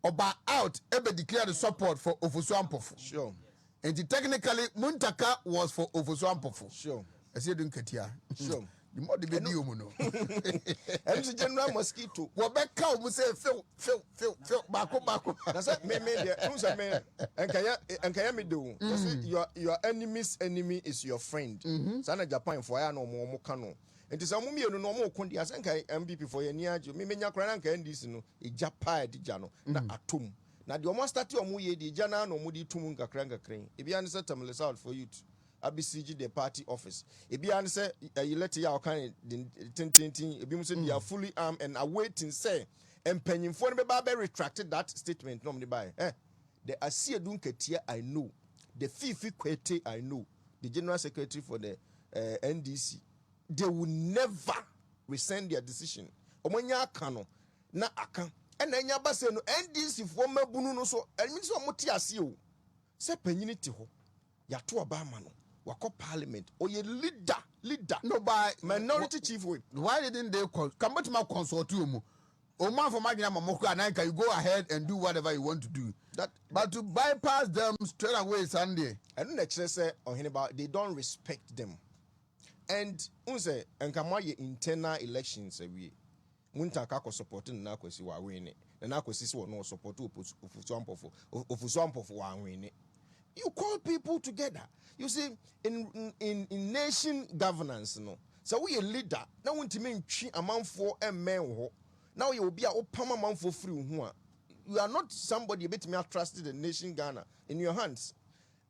ɔba out ɛbɛ declare the support for ofosu ampofo sure. nti technically muntaka was for ofosu ampofo sure. ɛsɛ edu nkatia sure. the more de bɛ di omu no ɛnu sɛ general mosquito wɔbɛ ka omu sɛ efew. few few few baako baako. na sɛ me me deɛ n sɛ me nkɛyɛ nkɛyɛ me de o kyɛ sɛ mm. your your enemy's enemy is your friend mm-hmm. saa na japan fo ayɛ na wɔn wɔn ka no nti sɛ wɔn mmienu no wɔn ko deɛ sɛ nka mpp fo yɛ ni agye me menya koraa na nka ndc no egya paa ɛde gya no na mm. atom na deɛ wɔn astate wɔn yɛ deɛ egya naa na wɔn de tum nkakra nkakra yi ebi ani sɛ tamale south for youth abisigi the party office ebi ani sɛ ɛyi lɛte yɛ a wɔka ne tententen ebi mu sɛ they are mm. fully armed and awaiting sɛ. mpanyimfoɔ no bɛba abɛ retract that statement na wɔn de baeɛ eh the asiedu nkatia i know the fifi kwete i know the general secretary for the uh, eh, ndc they will never rescind their decision wɔn anya aka no na aka ɛna anya aba sɛ no ndc foɔ mmabunu no so ɛmi sɛ wɔn te aseɛ o sɛ panyini te hɔ. Yato ɔba ama no wakɔ parliament ɔyɛ leader leader no by minority chief whip. Why didn't they call ka mobɛtumi a consult ɔmu ɔmu amfa ɔmo adwene ama mo koraa na nka you go ahead and do whatever you want to do that, but to bypass them straight away saa no deɛ. Ɛno na ɛkyerɛ sɛ ɔhene ba they don't respect them and wohu sɛ nka moayɛ internal elections awie Muntaa ka kɔ sɔpɔte Nana Akwasi w'awene. Nana Akwasi se ɔno ɔsɔpɔte Ofosu Ampɔfo. Ofosu Ampɔfo w'awene. You call people together. You see in in in nation governance no, sɛ woyɛ leader na wontumi ntwe amanfoɔ mmɛn wo hɔ, na woyɛ obi a wopam amanfoɔ firi wo ho a, you are not somebody yɛbɛtumi atrust the nation Ghana in your hands.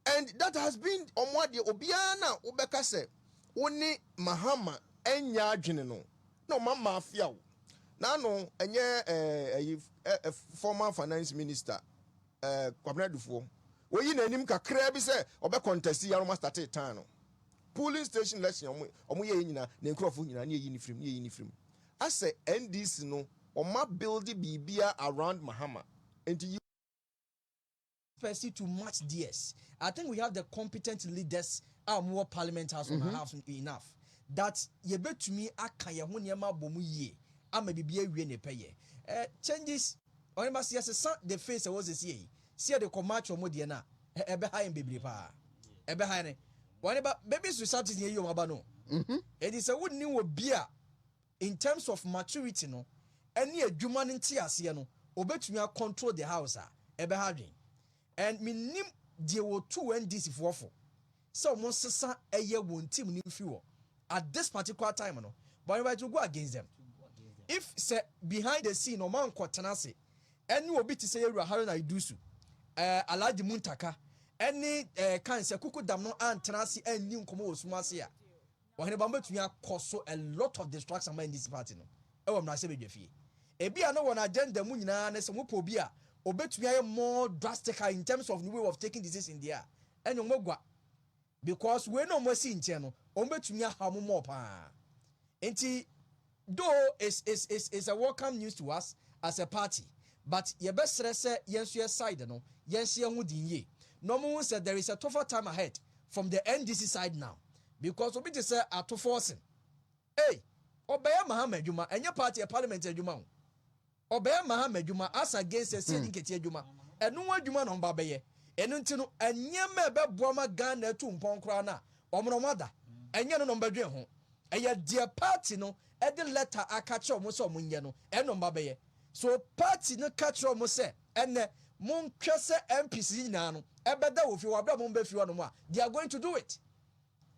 And that has been wɔn adeɛ, obiara no a wobɛka sɛ wo ne Mahama nyɛ adwene no na wɔn ama afea wo. N'ano ɛnyɛ ɛɛ ɛyi ɛ former finance minister ɛɛ Kwabena Dufoɔ. Wɔyi n'anim kakraa bi sɛ ɔbɛ contest yɛ na wɔn astate tan no. Polling station election wɔn wɔn yɛ yɛ nyinaa ne nkurɔfoɔ nyinaa ne yɛyi ne firim ne yɛyi ne firim. Asɛ NDC no wɔn abuilde biribiara around Mahama nti yi Percy to match theirs. I think we have the competent leaders a wɔn wɔ parliament house mm -hmm. house enough that yɛbɛtumi aka yɛn ho nneɛma abɔ mu yie ama biribi awie ne pɛyɛ. Uh, changes ɔne ma sɛ sesa the face ɛwɔ sɛ sie yi si yɛde kɔ match wɔn deɛ no a ɛbɛha yɛn bebree paa ɛbɛha yɛn ne wɔne ba babies to substance yɛ yi wɔn aba no ɛdi sɛ wonni wɔ bi a in terms of maturity no ɛne adwuma no nteaseɛ no ɔbɛtumi a control the house a ɛbɛha adwen and mennim deɛ wɔtuu NDC foɔ fo sɛ wɔn nsesa ɛyɛ wɔn team no mfiri hɔ at this particular time no but anyway it will go against them if sɛ behind the scene wɔn ankɔ tena ase ɛne obi te sɛ yɛwura Haruna Idusu ɛɛ Alhaji Muntaka ɛne ɛɛ kan sɛ kuku dam no antena ase anni nkɔmɔ wɔ sum ase a Ɔhene ba no betumi akɔ so a lot of distraction ama NDC party no wɔ mmarahyɛbadwafie. Ebia na wɔn agenda mu nyinaa ne sɛ wɔpɛ obi a obetumi ayɛ more drastical in terms of ne way of taking decision deɛ a, ɛne wɔn agua. Because wei na wɔasi nkyɛn no, wɔbetumi ahaw mo more paa. Nti Though it's it's it's it's a welcome news to us as a party but yɛbɛsrɛ sɛ yɛn nso yɛn side no yɛnhyɛ yɛn ho den yie na wɔn hu sɛ there is a tougher time ahead from the NDC side now because obi te sɛ Ato Forson ei ɔbɛyɛ Mahama adwuma ɛnyɛ party ɛ parliament adwuma o. Ɔbɛyɛ mahama adwuma, asa gɛnsa si ne nketeɛ adwuma. Ɛno ho adwuma na wɔba bɛyɛ. Ɛno nti no, nneɛma a ɛbɛboa ma Ghana atu mpɔn koraa no a, wɔn na wɔn ada. Ɛnyɛ ɛno na wɔbɛdwen ho. Ɛyɛ deɛ party no de lɛta aka kyerɛ wɔn sɛ wɔn nyɛ no, ɛno na wɔba bɛyɛ. So party no ka kyerɛ wɔn sɛ, ɛnnɛ, monhwɛ sɛ MPs no nyinaa no, ɛbɛda wɔ fie hɔ a, berɛ a wɔn bɛfiri hɔnom a, they are going to do it.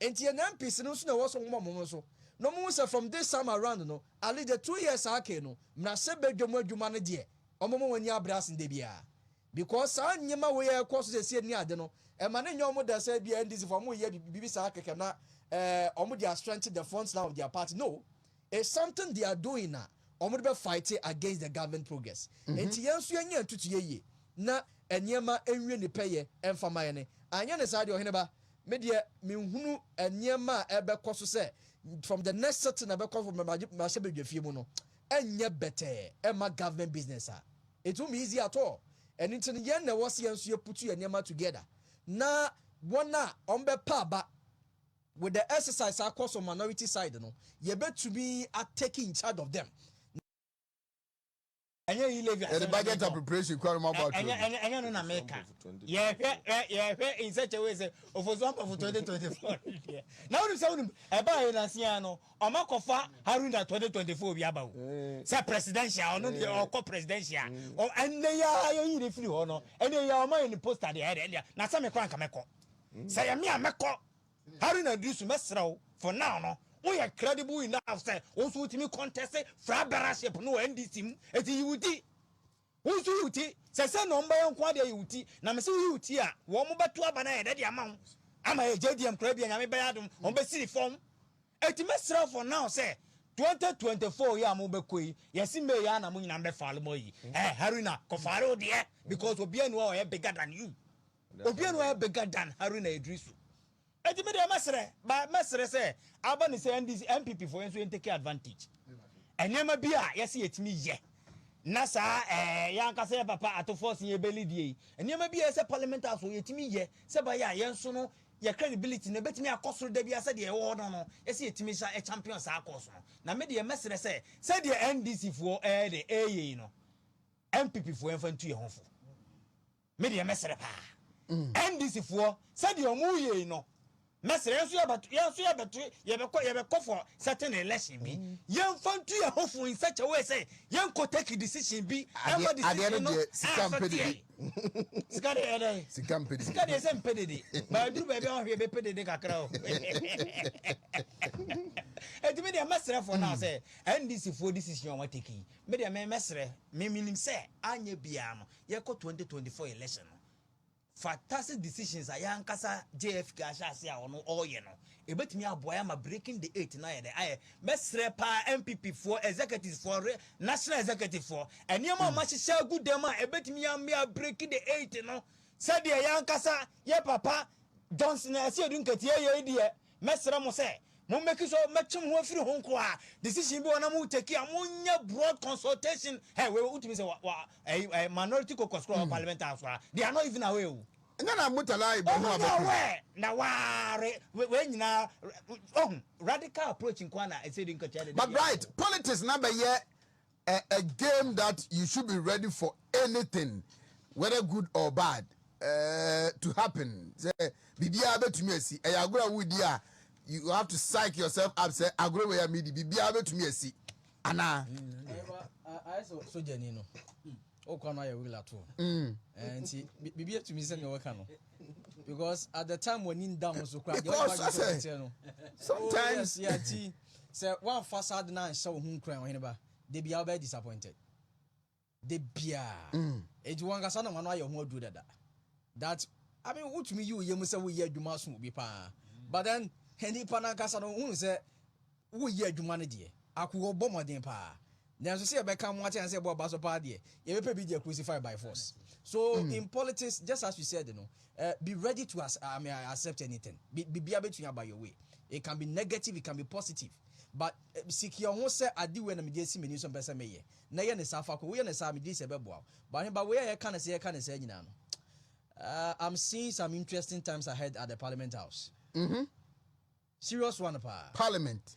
Enti yɛn MPs no nso na ɛwɔ sɛ wɔma wɔn ho so na wɔhu sɛ from this time around no, at least the two years a aka yi no, mmarahyɛbadwam adwuma no deɛ, wɔbɛma wɔn ani abre asen da biara. Because saa nneɛma wei a ɛrekɔ so seesei ne ade no, ɛma no nyɛ wɔn dɛ sɛ ebia NDCfoɔ wɔreyɛ biribi saa kɛkɛ na eh, wɔn deɛ astrengthen the front line of their party. No! It's something they are doing a wɔn de bɛ fighte against the government progress nti yɛn nso yɛn nyɛ ntutu yɛ yie na nneɛma nwie ne pɛyɛ mfa ma yɛne anyɛ ne saa deɛ ɔheneba me deɛ me nhunu nneɛma a ɛbɛ kɔ so sɛ from the next sitting na bɛkɔ so mahyɛ bɛ dwafie mu no ɛnyɛ bɛtɛɛ ɛma government business a it won't be easy at all ɛno nti no yɛn na ɛwɔ sɛ yɛn nso yɛ putu yɛ nneɛma together na wɔn a wɔn bɛ pa aba With the exercise a kɔ so minority side no yɛ bɛ tumi a take in charge of them. Ɛnyɛ yi levy asɛm na meka o. Ɛnyɛ no na meka. Yɛhwɛ in such a way sɛ Ofosu Ampɔfo 2024 deɛ. Na wonim sɛ wonim ɛbaa yɛ nansi ara no wɔn akɔfa Haruna 2024 bi aba o. Sɛ presidential ɔno deɛ ɔkɔ presidential. Ɛnɛ yi ara yɛyi no firi hɔ no ɛnɛ yi ara wɔn ayɛ no poster deɛ ɛyɛ dɛ. Na sɛ me koraa nka mɛkɔ. Sɛ yɛ me a mɛkɔ. Harry Nadisu, mɛsrɛ wo for now no, wo yɛ credible enough sɛ wo nso wotumi contest fra bearership no wɔ NDC mu, eti yi wo ti. Wo nso yi wo ti, sɛ sɛ na wɔn bɛyɛ nko ara deɛ yi wo ti, na mese wo yi wo ti a, wɔn bɛto aba no ayɛ dɛ de ama wo, ama yɛ JDM koraa bi a Nyame bɛyɛ adom, wɔn bɛsiri fam. Eti mɛsrɛ wo for now sɛ 2024 yi a mo bɛkɔ yi, yɛse May ara na mo nyinaa mbɛ file mo ayi, eh Harry na, kɔ file wo deɛ, because obiara nni hɔ a ɔyɛ bigger than you. Obia no ara bɛga dan Haruna Edrisu. Enti me deɛ mɛsrɛ, mɛsrɛ sɛ aba ne sɛ NDC, NPP foɔ yɛn nso yɛn take advantage. Nneɛma bi a yɛsi yɛtumi yɛ na saa ɛɛ yɛn ankasa yɛ papa atofoɔ si yɛn bɛli die yi. Nneɛma bi a yɛsɛ parliament house foɔ yɛtumi yɛ sɛ ba yɛ a yɛn nso no yɛ credibility no ɛbɛtumi akɔ soro da bi a sɛdeɛ ɛwɔ hɔ no no yɛsi yɛtumi sa champion saa course no. Na me deɛ mɛsrɛ sɛ sɛdeɛ NDC foɔ ɛɛdɛ ɛɛyɛ yi no NPP foɔ yɛn fa ntu yɛn ho fo. Me deɛ mɛsrɛ paa NDC foɔ sɛdeɛ ɔmo yei no mɛsrɛ yɛn nso yɛbɛto yɛn nso yɛbɛto yɛbɛkɔ yɛbɛkɔ for certain election bi mm. yɛn nfa ntu yɛn ho fo in such a way sɛ yɛn kɔ take decision bi ɛma decision no sika mpɛ dede sika de yɛ dɛ sika mpɛ dede sika de yɛ sɛ mpɛ dede baa duru baabi a ɔhwɛ yɛ bɛ pɛ dede kakra o ɛtumi deɛ mɛsrɛ fo naa sɛ ndc foɔ decision wɔn take yi mɛ deɛ mɛ mɛsrɛ mɛ minim sɛ anyɛ biara no. yɛkɔ 2024 election no fatase decisions a yɛankasa jfk ahyɛ ase a ɔno ɔreyɛ no ɛbɛtumi aboa yɛ ama breaking the eight no ayɛ dɛ ayɛ mɛsrɛ paa mpp foɔ executives foɔ national executive foɔ nneɛma a mahyehyɛ hmm. agu dɛm a ɛbɛtumi amea breaking the eight no sɛdeɛ yɛankasa yɛ papa johnson ɛsɛ yɛdu nkatia yɛi deɛ Mɛsrɛ mo sɛ mo make sure mɛtwe mo ho afiri ho nkoaa, decision bi wɔ hɔ na mo take a mo nyɛ broad consultation, hey wei wotumi sɛ wa wa ɛyi ɛɛ minority caucus koraa wɔ parliament house koraa, they are not even aware oo. Ɛnyɛ na Murtala Ibrahim abɛka. Ɔmo nyɛ aware na waare wei nyinaa, ohu, radical approach nkoaa na ɛsɛ de nkatua deda biara. But right politics na bɛyɛ A a game that you should be ready for anything whether good or bad uh, to happen sɛ biribiara bɛtumi asi ɛyɛ agorɔ a wodi a you have to psych yourself up sɛ agorɔ wei a medi biribiara bɛtumi asi anaa. ayɛ sɛ sogyani no o kɔ no ayɛ wigla to mm. eh, nti biribi atumi sɛ nea wɔka no because at the time w'ani nda ho so kora deɛ ɔba gye sɛ ɔteɛ no sometimes yɛ nti sɛ woamfa saa de no anhyɛ wo ho nkuran ɔhene ba da bia wobɛyɛ disappointed da biaa ɛnti mm. wɔnkasa na wano ayɛ ho aduro dada that I mean wotumi yi wo yɛ mu sɛ woyɛ adwuma so obi paa but then nipa no ankasa no wohunu sɛ Woyɛ adwuma no deɛ ako wɔbɔ mmɔden paa nanso sɛ yɛbɛka mo akyɛ ansa ɛbɔ aba so paa deɛ yɛbɛpɛ bi deɛ crucify by force so mm. in politics just as you said no uh, be ready to as, I mean, accept anything biribiara bɛtumi aba your way it can be negative it can be positive but eh, siki ɔho sɛ ade wei na mede asi m'ani so mpɛ sɛ meyɛ na yɛ ne saa fa kɔ woyɛ ne saa megye sɛ ɛbɛboa wo but heba wei a yɛka ne sɛ yɛka ne saa nyinaa no uh, i'm seeing some interesting times ahead at the parliament house mm -hmm. serious one paa parliament